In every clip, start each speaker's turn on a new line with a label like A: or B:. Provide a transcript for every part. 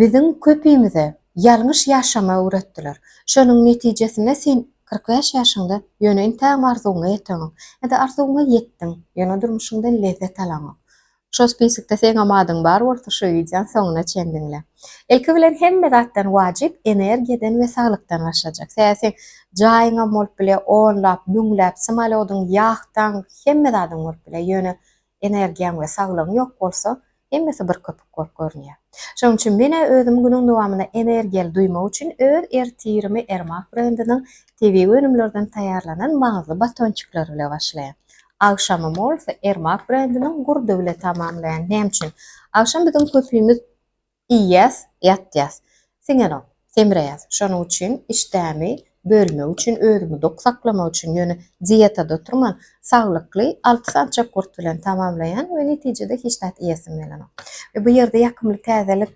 A: Biziň köpimize ýalňyş ýaşamagy öwretdiler. Şonuň netijesinde sen kyrk bäş ýaşyňda ýöne entägem arzuwyňa ýeteňok. Ýa-da arzuwyňa ýetdiň, ýöne durmuşyňdan lezzet alaňok. Şol spisikde seňem adyň bar bolsa şu wideony soňuna çen diňle. Ilki bilen hemme zatdan wajyp energiýadan we saglykdan başlajak. Sebäbi seň jaýyňam bolup bilýär, onlap, müňläp, samolodyň, ýahtaň, hemme zadyň bolup bilýär. Ýöne Energiýaň we saglygyň ýok bolsa, hemmesi bir köpük bolup görünýär. Şonuň üçin men-ä özümi günüň dowamynda energiýaly duýmak üçin öz ertirimi Ermak brendiniň tebigy önümlerden taýýarlanan maňyzly batonçikleri bile başlaýan. Agşamymy bolsa Ermak brendiniň gurdy bile tamamlaýan. Näme üçin? Agşam biziň köpimiz Iýýäs, ýatýas. Siňenok, semreýäs. Şonuň üçin işdämi bölmek üçin, özümi dok saklamak üçin, ýöne dietada oturman, saglykly alty sany çöp gurt bilen tamamlaýan we netijede hiç zat iýesim gelenok. We bu ýerde ýakymly täzelik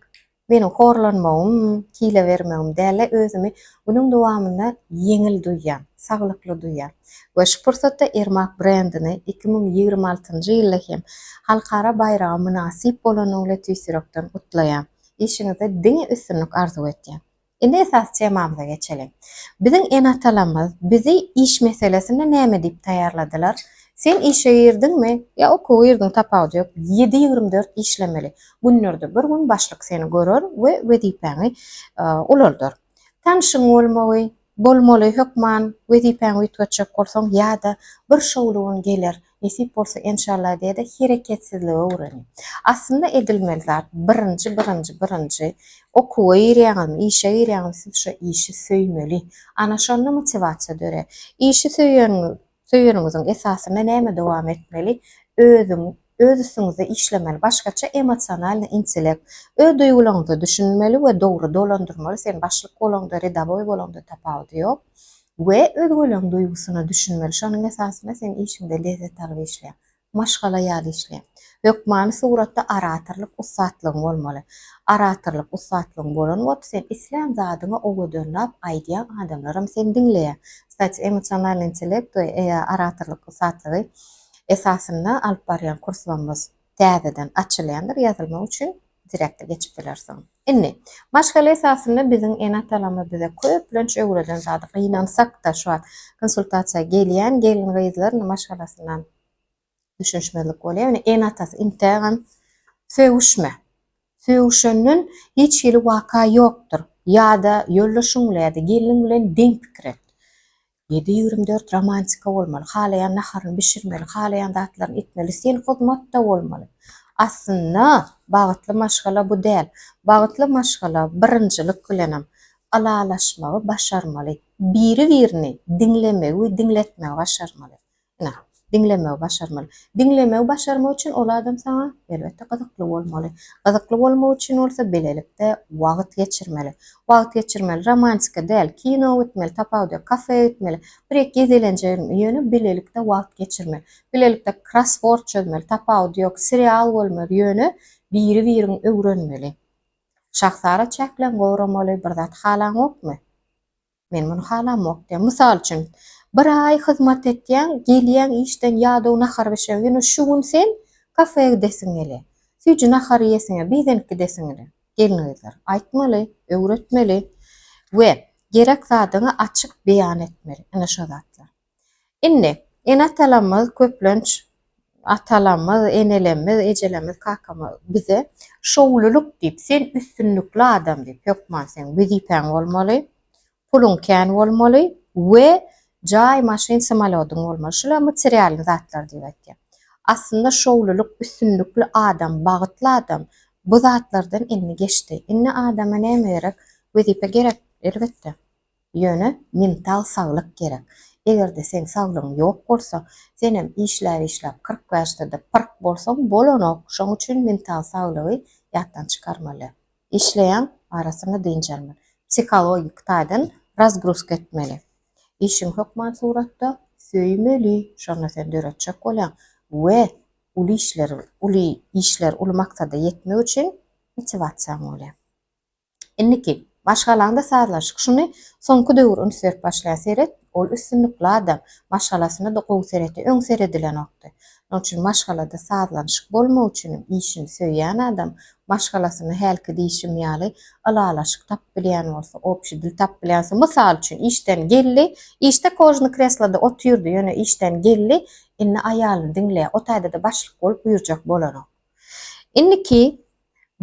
A: meniň horlanmagym, kile bermegim däl-de, özümi günüň dowamynda ýeňil duýýan, saglykly duýýan. we şu pursatda Irmak brendini iki müň ýigrimi altynjy ýylda hem halkara baýraga mynasyp bolany bilen tüýs ýürekden gutlaýan. Işiňizde diňe üstünlik arzuw etýän. Indi esasy temamyza geçeliň. Biziň ene-atalarymyz bizi iş meselesinde näme diýip taýýarladylar? Sen işe girdiňmi ýa okuwa girdiň tapawudy ýok, ýedi ýigrimi dört işlemeli. Günlerde bir gün başlyk seni görer we wezipäňi ulaldar. Tanşyň bolmagy, Bolmaly hökman wezipäňi üýtgetjek bolsaň ýada bir şowly gün geler nesip bolsa enşalla diýede hereketsizligi öwreniň. Aslynda edilmeli zat birinji birinji birinji okuwa girýäňizmi işe girýäňizmi siz şo işi söýmeli ana şonda motiwasiýa dörär. Işi söýeniňiz Söýeniňiziň esasynda näme dowam etmeli? Özüň, öz üstüňizde işlemeli, başgaça emosionalnyý intellekt. Öz duýgularyňyza düşünmeli we dogry dolandyrmaly, sen başlyk bolaňda, redawoý bolaňda tapawudy ýok we özgeleň duýgusyna düşünmeli, şonuň esasynda sen işiňde lezzet alyp işleýäň. Maşgala ýaly işle. Hökmany suratda oratorlyk ussatlygyň bolmaly. Oratorlyk ussatlygyň bolan bolup, sen islän zadyňy owadanlap aýdýaň, adamlaram seni diňleýär. Kstati, emosionalnyý intellekt we oratorlyk ussatlygy esasynda alyp barýan kurslarymyz täzeden açylýandyr, ýazylmak üçin direkte geçip bilersiň. Indi, maşgala esasynda biziň ene-atalarymyz bize köplenç öwreden zady, gynansak-da şu wagt konsultasiýa gelýän gelin-gyzlar maşgalasyna düşünişmezlik bolýar. Ýöne ene-atasy intägem sögüşme. Sögüşenden hiç hili waka ýokdur. Ýa-da ýoldaşyň bilen ýa-da gelniň bilen deň pikir et. Ýedi ýügrüm dört romantika bolmaly, halaýan naharyny bişirmeli, halaýan zatlaryny etmeli, sen hyzmatda bolmaly. Aslynda bagtly maşgala bu däl. Bagtly maşgala birinjilik bilenem ylalaşmagy başarmaly, biri-birini diňlemegi we diňletmegi başarmaly. Ine, diňlemegi başarmaly. Diňlemegi başarmak üçin ol adam saňa, elbetde, gyzykly bolmaly. Gyzykly bolmak üçin bolsa bilelikde wagt geçirmeli. Wagt geçirmeli, romantika däl, kino gitmeli, tapawudy ýok, kafeýa gitmeli, bir-iki gezelenje, ýöne bilelikde wagt geçirmeli. Bilelikde krossword çözmeli, tapawudy ýok, serial görmeli, ýöne biri-biriňi öwrenmeli. Şahsara çäkleň goramaly, bir zat halaňokmy? Men muny halamok diýýär. Mysal üçin, bir aý hyzmat etýäň, gelýäň işden ýadaw nahar bişer, ýöne şu gün sen kafeä gidesiň gelýär. Süýji nahar iýesiň gelýär, bidenk gidesiň gelýär. Gelin-gyzlar, aýtmaly, öwretmeli we gerek zadyňy açyk beýan etmeli. Ine şo zatlar. Indi, ene-atalarymyz köplenç, atalarymyz, enelerimiz, ejelerimiz, kakamyz bize şowlulyk diýip, sen üstünlikli adam diýip, hökman seň wezipäň bolmaly, puluň kän bolmaly we jaý, maşyn, samolýodyň bolmaly. Şular materialnyý zatlar diýip aýtýar. Aslynda şowlulyk, üstünlikli adam, bagtly adam bu zatlardan indi geçdi. Indi adama näme gerek? Wezipe gerek, elbetde. Ýöne mintag saglyk gerek. Egerde seň saglygyň ýok bolsa, senem işläp-işläp kyrk bäşdede pyrk bolsaň bolanok, şoň üçin mintag saglygy ýatdan çykarmaly. Işleýäň, arasyna dynç almaly. Psihologik taýdan razgruska etmeli. Işiňi hökman suratda söýmeli, şonda sen döretjek bolýaň we uly işler uly işler uly maksada ýetmek üçin motiwasiýaň bolýar. Indiki, maşgalaňda sazlaşyk. Şuny soňky döwür üns berip başlaýar. Seret, ol üstünlikli adam. Maşgalasyna-da gowy seretýär. Öň seredilenokdy. Şonuň üçin maşgalada sazlanyşyk bolmagy üçinem, işini söýýän adam maşgalasyna hälki diýşim ýaly ylalaşyk tapyp bilýän bolsa, obşi dil tapyp bilýän bolsa, mysal üçin, işden geldi, işde kožny kresloda otyrdy, ýöne işden geldi, indi aýalyny diňleýär. O taýda-da başlyk bolup buýurjak bolanok. Indiki,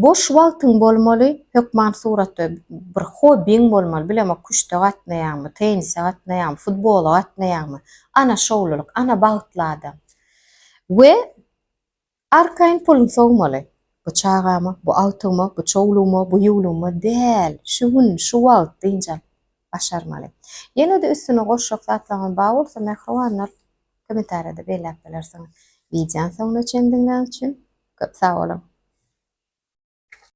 A: Boş wagtyň bolmaly, hökman suratda bir hobbiň bolmaly, bilemok küşte gatnaýaňmy, tennise gatnaýaňmy, futbola gatnaýaňmy, ana şowlulyk, ana bagtly adam. We arkaýyn puluň sowmaly. Bu çagama, bu agtygyma, bu çowlugma, bu ýuwlugma däl, şu gün, şu wagt dynç alyp, başarmaly. Ýene-de üstüne goşjak zatlaryňyz bar bolsa mähribanlar kommentariýada belläp bilersiňiz. Wideony soňuna çendiňläň üçin köp sag boluň.